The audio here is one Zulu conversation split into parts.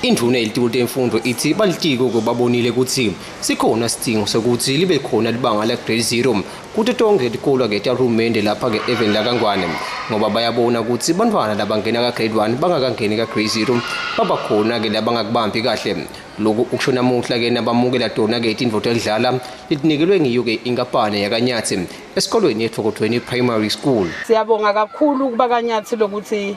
Induna yelitiko lemfundo ithi balitiko kubabonile ukuthi sikhona sidingo sokuthi libe khona libanga la grade 0 kuthi tonke likolo ke tarumende lapha ke even la kangwane ngoba bayabona ukuthi bantwana labangena ka grade 1 bangakangeni ka grade 0 baba khona ke labangakubambi kahle lokhu ukusho namuhla ke nabamukela tona ke itinvo tokudlala litinikelwe ngiyo ke inkampane yakanyathi esikolweni yethokothweni primary school siyabonga kakhulu kuba kanyathi lokuthi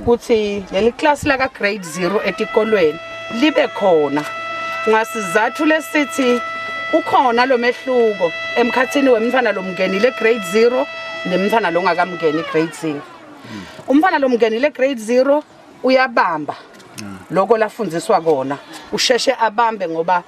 ukuthi leli class la ka grade 0 etikolweni libe khona ngasizathu lesithi ukhona lo mehluko emkhathini wemntwana lomngenile grade 0 nemntwana longakamngeni grade 0 umntwana lomngenile grade 0 uyabamba lokho lafundiswa kona usheshe abambe ngoba